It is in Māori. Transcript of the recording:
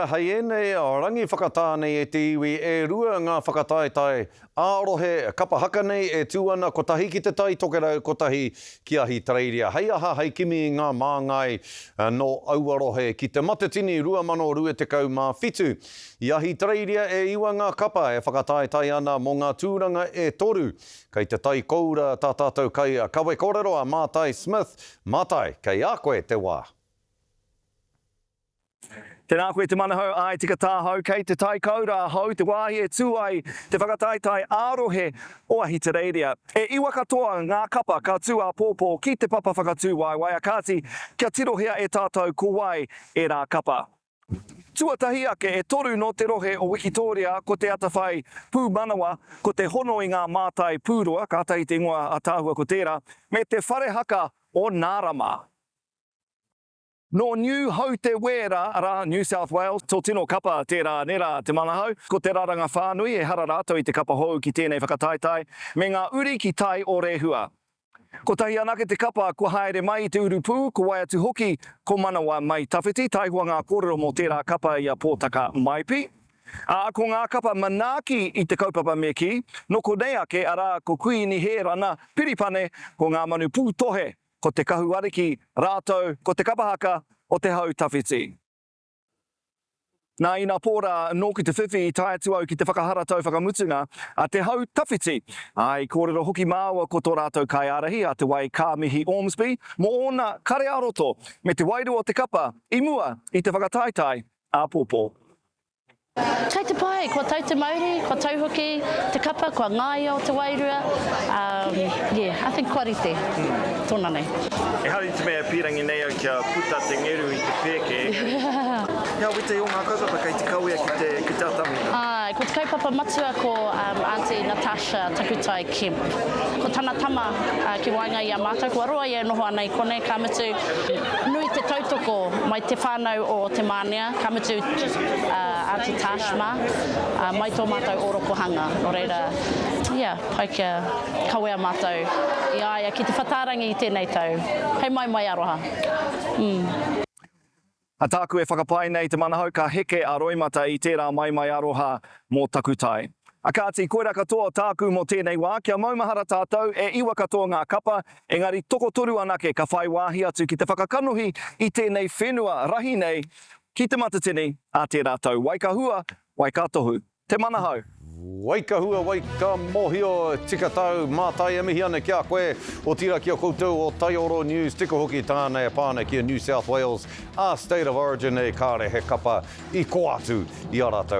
Hei ēnei rangi whakatā nei e te iwi e rua ngā whakataetae ā-rohe kapa haka nei e tū ana kotahi ki Te Tai Tokerau, kotahi ki Ahitereiria. Hei aha, hei kimi i ngā māngai nō aua rohe. Ki Te Matatini 2027, i Ahitereiria e iwa ngā kapa e whakataetae ana mō ngā tūranga e toru. Kei te tai koura tā tātou kai kawe kōrero a Mātai Smith. Mātai, kei a koe te wā. Tēnā koe te manahau āe tika tāhau kei te tai kau rā hou te wāhi e tū ai te whakataetae ā-rohe o Ahitereiria. E iwa katoa ngā kapa ka tū āpōpō ki te papa whakatū waewaea kāti kia tirohia e tātou ko wai ērā kapa. Tuatahi ake e toru nō te rohe o Wikitōria ko te atawhai pūmanawa, ko te hono i ngā mātai pūroa, kātahi te ingoa ātaahua ko tērā, me te whare haka o Nārama. Nō Niu Hau Te Wēra, arā, New South Wales, tō tino kapa tērā ane rā te Manahau. Ko te raranga whānui, ehara rātou i te kapa hou ki tēnei whakataetae, me ngā uri ki tai o Rehua. Kotahi anake te kapa kua haere mai i te urupū, ko wai atu hoki ko Manawa mai tawhiti, taihoa ngā kōrero mō tērā kapa i a Pōtaka Maipi. Ā, ko ngā kapa manaaki i te kaupapa me kī, nō konei ake, arā, ko Kuīni Hērana Piripane, ko Ngā Manu Pūtohe, ko te Kahu Ariki rātou ko te Kapa Haka o te Hau Tawhiti. Nā ina pō rā nō ki te whiwhi i tae atu au ki te whakaharatau whakamutunga a te Hau Tawhiti, ā, i kōrero hoki māua ko tō rātou kaiārahi a Te Wai Kā Mihi Ormsby mō ōna kare-ā-roto me te wairua o te kapa i mua i te whakataetae āpōpō. Kei te pai, kua tau te mauri, kua tau hoki te kapa, kua ngaia o te wairua, um, yeah, I think kua rite, tona nei. Ehara i te mea e pīrangi nei au kia puta te ngeru i te pēke, engari, he awiti o ngā kaupapa kei te kawea ki te, ki te atamira. Āe, ko te kaupapa matua ko um, Aunty Natasha Takutai Kemp. Ko tana tama uh, ki waenga i a mātou, kua roa ia e noho ana i konei, ka mutu, nui te tautoko mai te whānau o Te Mānea, Ka mutu, a Aunty Tash mā, a mai tō mātou ōrokohanga, nō reira, ia, pai kia kawea mātou i a ia ki Te Whatārangi i tēnei tau. Hei mai mai aroha. Umm. A tāku e whakapae nei te manahau ka heke a Roimata i tērā mai mai aroha mō Takutai. A kāti, koirā katoa o tāku mō tēnei wā, kia maumahara tātou, e iwa katoa ngā kapa, Engari tokotoru anake ka whai wāhi atu ki te whakakanohi i tēnei whenua rahi nei ki Te Matatini a tērā tau. Wai ka hua, wai ka tohu. Te manahau. Wai ka hua, wai ka mohio, tika tau, mātai e mihi ana ki a koe, otira ki a koutou o Taioro News, tika hoki tāna e pā ana ki a New South Wales, a State of Origin nei, kāre he kapa i kō atu i a rātou.